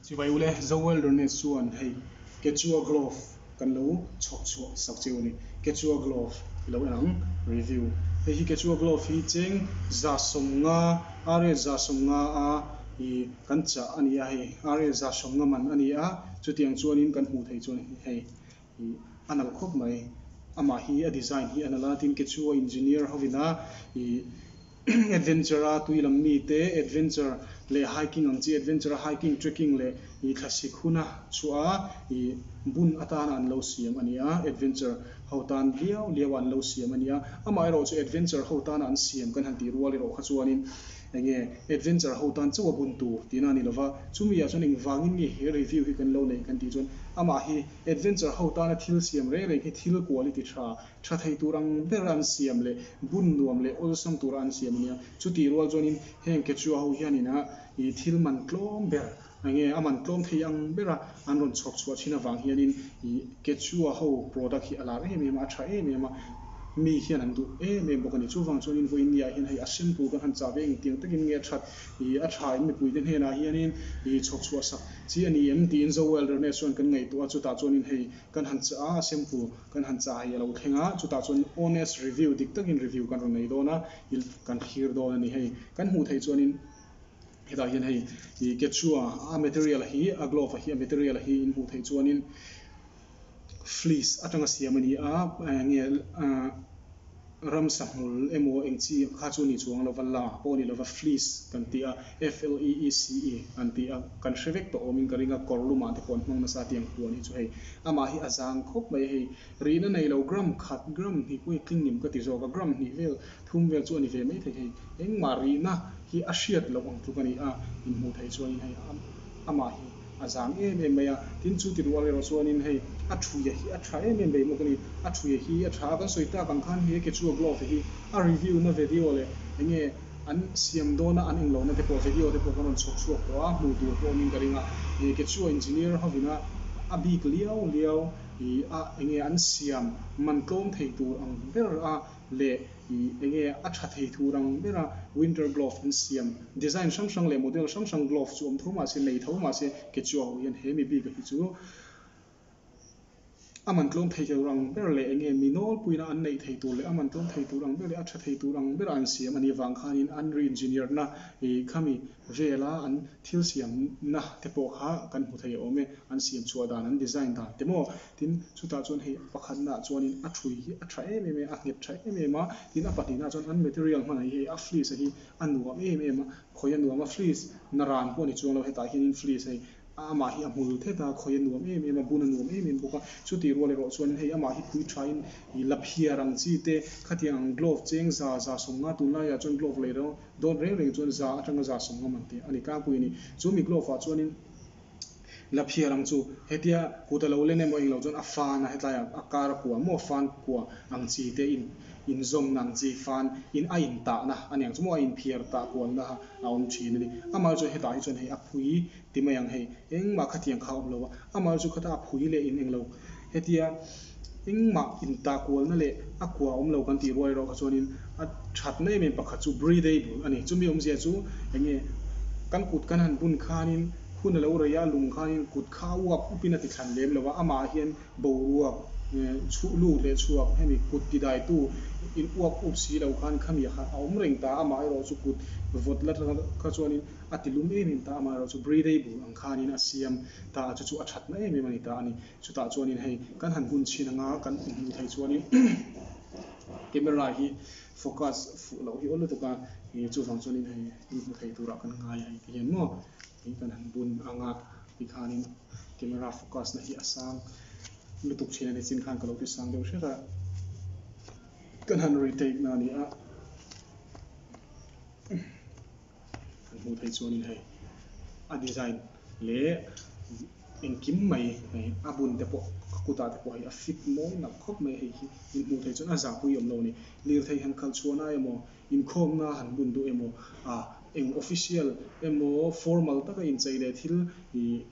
Chu mai u le, Zo Wilderness chuan hei Quechua Glove kan lo chhawk chhuah sak che u ni, Quechua Glove i lo en ang review. Hei hi Quechua Glove hi cheng za sawm nga, Ariel za sawm nga a i kan chah a ni a, hei Ariel za sawm nga man a ni a, chutiang chuan in kan hmuh theih chuan hei Ih a nalh khawp mai. Amah hi a design hi a nalh a, tin kechua engineer hovina ih adventure a tui lam mite adventure leh hiking ang chi adventure a hiking trekking leh ih thlasik huna chhuaha ih bun atana an lo siam a nia adventure ho tan viau viau a an lo siam a nia. Amah erawh chu adventure ho tana an siam kan han tih rual erawh kha chuanin enge adventure ho tan chauh a bun tur tihna a ni lova chumi ah chuan engvangin nge he review hi kan lo neih kan tih chuan amah hi Adventure ho tana thil siam rei rei khi thil quality tha, tha thei tur ang bera an siam leh bun nuam leh awlsam tura an siam a nia. Chuti rual chuanin heng Quechua ho hianin a ih thil man tlawm ber a nge a man tlawm thei ang bera an rawn chhuak chhuah thin avang hianin ih Quechua ho product hi a lar em em a, a tha em em a, mi hian an duh em em bawk a ni. Chuvang chuan invawiin ni ah hian hei a shampoo kan han chah ve engtiang takin nge a that I a tha in mipuite hnenah hianin I chhawk chhuah sak chi a ni em? tiin Joel Rene chuan kan ngaihtuah a, chutah chuanin hei kan han chah a, a sempu kan han chah hei a lo thleng a, chutah chuanin honest review dik takin review kan rawn nei dawn a, I kan thlir dawn a ni hei. Kan hmuh theih chuanin hetah hian hei I kechua a material hi a glove hi a material hi in hmuh theih chuanin, fleece atanga siam a ni a, eng nge ram sahmul emaw eng chi kha chu ni chuang lo va, la pawh ni lova fleece kan ti a, F-L-E-E-C-E an ti a, kan hre vek tawh awmin ka ring a, kawrlumah te pawh an hmang nasa tiang thu a nih chu hei, amah hi a zang khawp mai hei, rihna nei lo gram khat, gram hnihpuia tlingnim ka ti zawk a, gram hnih vel Thum vel chu a ni ve mai thei hei, engmah rihna hi a hriat loh ang tluk a ni a, inhmuh theih chuan in hei amah hi a zam em em mai a, tin chu ti rual erawh chuan in hei a thuia hi a tha em em daih bawk a ni, a thuia hi a tha a, kan sawi tak ang khan he Quechua blog te hi a review na vedio leh enge an siam dawn a an en lo na te pawh vedio te pawh kan rawn chhawp chhuak tawh a, hmuh tur pawh awm in ka ring a, he Quechua engineer hovina a bik liau liau i a enge an siam man tlawm thei tur ang ber a, leh i eng nge a tha thei thu rang ber a winter glove an siam design hrang hrang leh model hrang hrang glove chu awm tho mahse nei tho mahse ke chua hu hian he mi bik a hi chu a man tlawm thei tel rang ber leh eng nge mi nawl puina an neih thei tur leh a man tlawm thei tur ang ber leh a tha thei tur ang ber a an siam a ni vang khan in an re engineer na i khami vel a an thil siam na te pawh kha kan hmu thei a awm e an siam chhuah dan an design dan te maw Tin, chutah chuan hei pakhatnaah chuanin a ṭhui hi a ṭha em em e, a nghet ṭha em em a. Tin, a pahnihnaah chuan an material hmanah hi hei a fleece-a hi a nuam em em a, khawi a nuam a. Fleece na ran pawh a ni chuang lo, hetah hianin fleece hei amah hi a hmul thet a, khawi a nuam em em a, bun a nuam em em bawk a. Chutih rual erawh chuanin hei amah hi pui ṭhain ih la phiar ang chi te, khatiang ang glove cheng za, za sawm nga, tunlaiah chuan glove lei dawn reng reng chuan za aṭanga za sawm nga man tih a ni tlangpui a ni. Chu mi glove-ah chuanin. La phiar ang chu hetia kut a lo len emaw eng lo chuan a fan a hetlai ah a kar a kuah maw a fan kuah ang chi te in in zawmna ang chi fan in a in tah na a ni ang chu maw a in phiar tah kual na a awm thin a ni amah chu hetah hi chuan hei a phui ti mai ang hei engmah khathiam kha a awm lo a amah chu khata a phui leh in eng lo Hetia, engmah intahkualna leh a kua awm lo kan tih rual erawh kha chuanin a thatna em em pakhat chu breathable a ni. Chumi awmzia chu eng nge kan kut kan han bun khanin hun a lo rei a, lung khanin kut kha a uap upin a ti thlan lem lo a, amah hian boruak, chhuh lut leh chhuak hemi kut ti daitu in uap up si lo khan khami kha a awm reng ta a, amah erawh chu kut vawt la atanga kha chuanin a ti lum em em ta, amah erawh chu breathable ang khanin a siam ta chu chu a thatna em em a ni ta a ni. Chutah chuanin hei kan han hun chhin anga kan hmuh theih chuanin camera hi focus fuh loh hi awl lutuk a, chuvang chuanin hei hnim hmu thei turah kan ngai a engti hian maw tih kan han bun anga tikhanin camera focus na hi a sang lutuk thin a ni chin khan ka lo ti sang deuh hret a, kan han retake na a ni a. kan hmuh theih chuanin hei a design leh engkim mai hei a bun te pawh a kutah te pawh hei a fit mawi nalh khawp mai hei hi min hmuh theih chuan a zahpui awm lo a ni lirthei han khalh chhuahna emaw inkhawmna han bun duh emaw a eng official emaw formal taka inchei leh thil ih--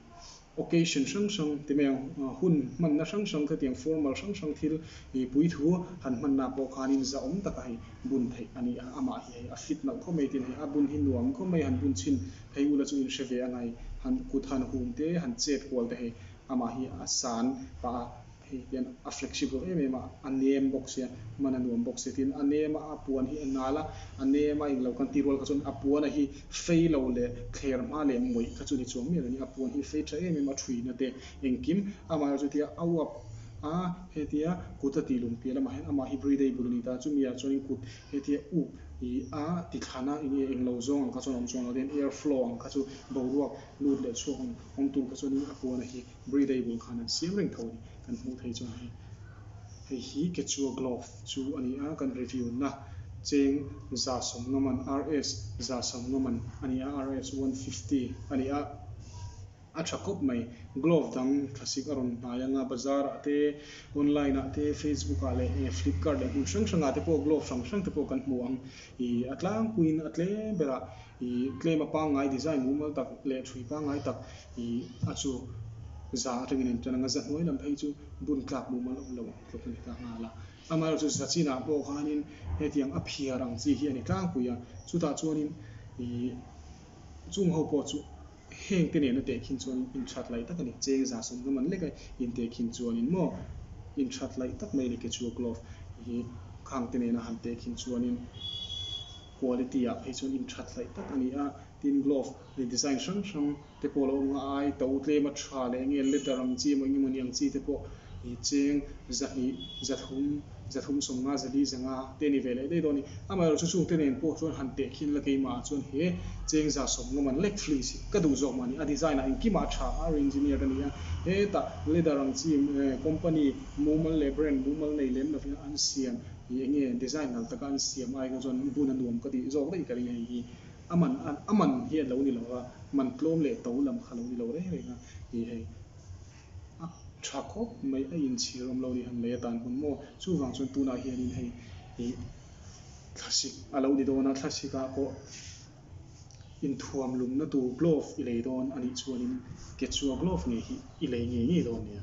occasion hrang hrang ti mai ang, hun hmanna hrang hrang kha tiang formal hrang hrang thil i puithu han hmanna pawh khanin zahawm taka hei bun theih a ni a, amah hi hei a fit loh khawp mai tiin hei a bun hi nuam khawp mai han bun chhin phei ula chu inhre ve a ngai han kut han hum te han chet kual te hei amah hi a san pah a. Hei hian a flexible em em a, a nem bawk sia, man a nuam bawk sia tiin a nem a, a puan hi a nal a, a nem a, englo kan ti rual kha chuan a puana hi fei lo leh thler hma leh mawih kha chu ni chuang miah lo nia, a puan hi fei tha em em a thuihna te engkim amah erawh chu tia a uap a, hetia kut a tih lum piah lamah hian amah hi bride-i bul a ni ta, chumi ah chuan kut hetia up i a, ti thlan a, enge englo zawng ang kha chuan a awm chuang lo tiin air flow ang kha chu boruak lut leh chhuak awm tur kha chuan a puana hi Bri dei bul khan an siam reng tho a ni. Kan hmuh theih chuan hei hei hi Kechua Glove chu a ni a, kan review na cheng za sawmngaman RS za sawmngaman a ni a, RS one fifty a ni a, a tha khawp mai. Glove dang thlasik a rawn hnai anga bazar ah te, online ah te, Facebook ah leh Flipkart leh hmun hrang hrang ah te pawh Glove hrang hrang te pawh kan hmu ang. Ih a tlangpuiin a tlem berah. I tlema pangngai design mumal tak leh thui pangngai tak I a chu za atangin a intar ang a, za hnuai lam phei chu bun tlak mumal awm lo ang tluk a ni ta nghal a, amaherawh chu za chinah pawh khanin hetiang a phiar ang chi hi a ni tlangpui a, chutah chuanin I chung ho pawh chu heng te nen a teh khin chuanin in that laih tak a ni, cheng za sawmnga man lek a in teh khin chuanin maw, in that laih tak mai a ni kechua glove hi khang te nena han teh khin chuanin. quality ah phei chuan intha tlaih tak a ni a, tin glove ih design hrang hrang te pawh a lo awm ang a, ai to tlem a tha leh nge leather ang chi emaw eng emaw ni ang chi te pawh ih cheng zahnih, zathum, zathum sawmnga, zali zanga te a ni ve leh daih dawn a ni. Amaherawh chu chungte nen pawh chuan han teh khin la keimahah chuan he cheng za sawmnga man lek thli si ka duh zawk mah ni, a design ah engkim ah a tha a reengineered a ni a, hetah leather ang chi company mumal leh brand mumal nei lem lovin an siam. Hi enge design hnal taka an siam ai kha chuan bun a nuam ka tih zawk daih ka ri hei hi a man a a man hi a lo ni lo a man tlawm leh to lam kha a lo ni lo reng reng a hi hei a tha khawp mai a in chhir awm lo ni han lei a tan hun maw chuvang chuan tunah hian in hei hi thlasik a lo ni dawn a thlasik ah pawh inthuam lum na tur glove i lei dawn a nih chuan in kechua glove nge hi i lei ngei ngei dawn nia.